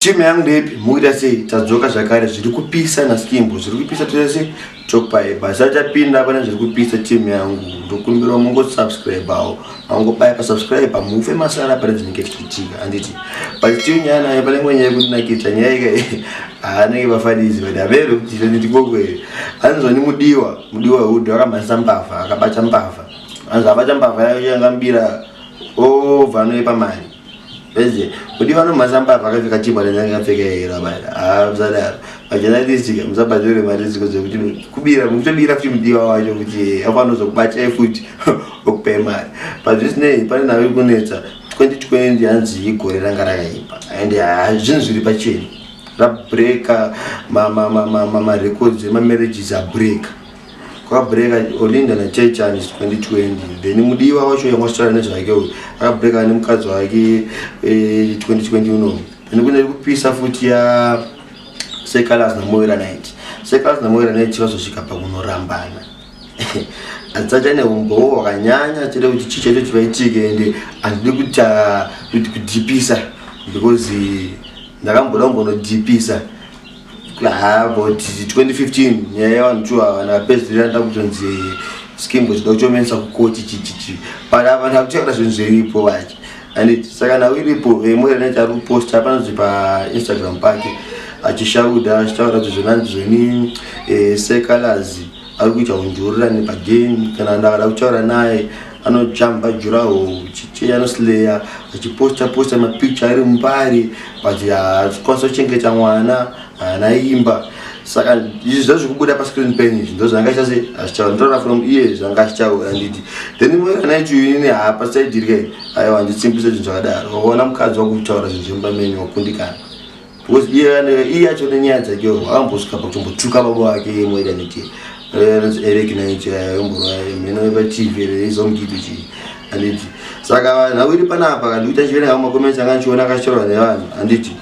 Team yangu ndepi muita sei tadzoka zvakare zviri kupisa na skimbo zviri kupisa tese topai basa tapinda pane zviri kupisa team yangu ndokumbira mungo subscribe awo mango pai pa subscribe pa mufe masara pane zvinenge zvichiitika anditi but team yana ya pane mwenye kuti nakita nyaya ike anenge vafanizi but avero tita nditi kokwe anzwa ni mudiwa mudiwa hudu akamhanisa mbavha akabata mbavha anzwa abata mbavha yayo yangambira o oh, vanoipa mari Vese, kuti vanomhasa mbavha akapfeka chibwa nenyanga akapfeka yero abana. Ah, musadaro. Majournalistic musabatirwe mari dziko dzekuti kubira mukutobira futi mudiwa wacho kuti afanozokubata futi okupe mari. But zvisinei pane nave kunetsa 2020 hanzi igore ranga rakaipa and ah, zvinhu zviri pachena. Rabreaker ma ma ma ma ma records ema marriages abreaker. kwabreaka olinda nachechani 2020 then mudiwa wacho yamwasitara nezvake uyu akabreaka nemukadzi wake 2020 eh, uno then kune kupisa futi ya sekalas namoera nit sekalas namoera nit vazosvika pakunorambana adzata neumbowo wakanyanya chete kuti chii chaito chivaitike ende handidi kuti ah, kudipisa because ndakamboda kumbonodipisa haa but 2015 nyaya yavanhu two ava napedzerera nda kutonzi skim kuti ndakuchomenisa kukoti chichichi but ava ndakuchakata zvinhu zviripo vachi and saka nhau iripo vemwe reneti ari kuposta panonzi painstagram pake achishauda achitaura kuti zvenanzi zveni eh, secalazi ari kuita kundiurira nepagame kana ndakada kutaura naye anojamba juraho chicheya anosleya achiposta posta mapicture ari mubari but hatikwanisa kuchengeta mwana haana imba saka izvi zva zvikubuda pascreen pen izvi ndo zvanga chase achichava ndotaura from iye zvanga achitaura nditi then moranaitu inini hapa saidirike aiwa nditsimbisa zvinhu zvakadaro waona mukadzi wakutaura zvinhu zvemumba menyu wakundikana iye yacho nenyaya dzake ambosvika pakutombotuka baba vake moita niti eric naicho yayomborayomheno patv reizomgidi chii anditi saka vanhu avo iri panapa kandikuita chiverenga makomensi anga ndichiona akashorwa nevanhu anditi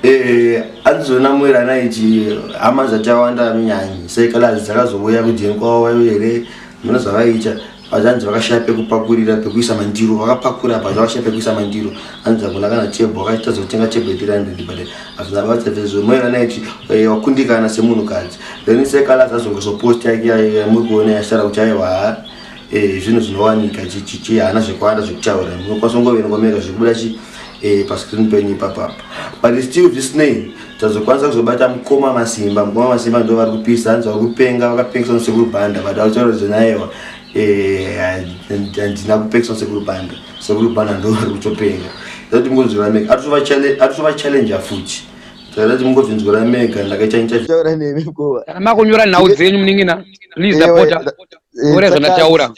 eh, andizona mwera anaiti hama dzatawanda minyanyi sekalazi dzakazouya kudini kwavo vaivo here mino zvavaiita hazvanzi vakashaya pekupakurira pekuisa mandiro vakapakura apa zvavashaya pekuisa mandiro hanzi hakuna kana chebho vakaita zotenga chebho yetiranhedi but hazvina basa vezvo moyo vanaiti eh, wakundikana semunhukadzi then sekala zazongeso post yake yamuri kuona yasara kuti aiwa eh, zvinhu zvinowanika chichichi haana zvekuwanda zvekutaura munokwanisa kungoverengomega zvekubuda chi eh, pascreen penyu ipapapa but still this name tazokwanisa kuzobata mukoma masimba mukoma masimba ndo vari kupisa hanzi vari kupenga vakapengesa musekuru banda but vautaura zvenayewa eh, handina kupengesa musekuru banda sekuru banda ndo vari kutopenga zati mungonzwira mega atotova challenge afuti zati mungonzwira mega ndakaita intervtaura nemi mukoma kana makonyora nhau dzenyu muningina please apota ore zvandataura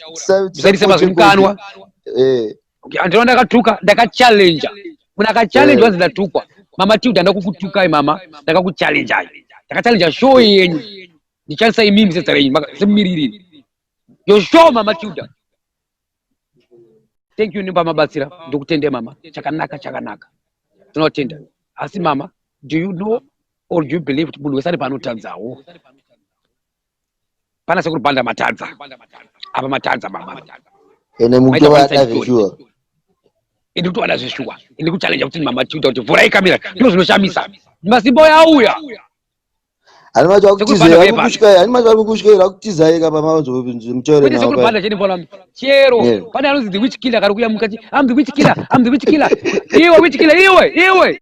musaitise mazwi mukanwa eh, eh. Okay, andino ndakatuka ndakachallenja munhu akachallenja eh. wanzi ndatukwa mama tilda ndakukutukai mama ndakakuchallenjai ndakachallenja show yenyu ndichandisa imimi zedza renyu semumiririri yo show mama tilda thank you nimba mabatsira ndokutende mama chakanaka chakanaka tinotenda asi mama do you know or do you believe kuti munhu wese ari paanotadzawo Pana sekuru Banda matadza. Apa matadza baba. Ene mtu vada zveshuwa. Ende kuti vada zveshuwa. Ende kuti challenge kuti mama tuta kuti vhurai kamera. Ndizvo zvinoshamisa. Masimbo yauya. Ani macho akutiza ari kukushika ani macho ari kukushika ari kutiza yeka pa mazo mchore na. Sekuru Banda chini bola. Chero. Pana anozi the witch killer kari kuya mukati. I'm the witch killer. I'm the witch killer. Iwe witch killer iwe. Iwe.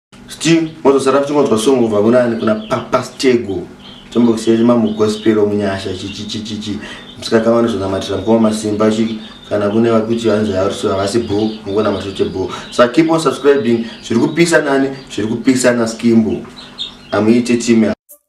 Still mozosara kuchingonzwa song ubva kunani kuna Papa Stego. Chombokusiyai mamu gospel omunyasha chichi chichi chi. Msikaka vanozonamatira mkoma masimba chi kana kune vari kuti vanzi havasi havasi bho mukona mashote bho. So keep on subscribing zviri kupisa nani zviri kupisa na Skimbo. Amuite team ya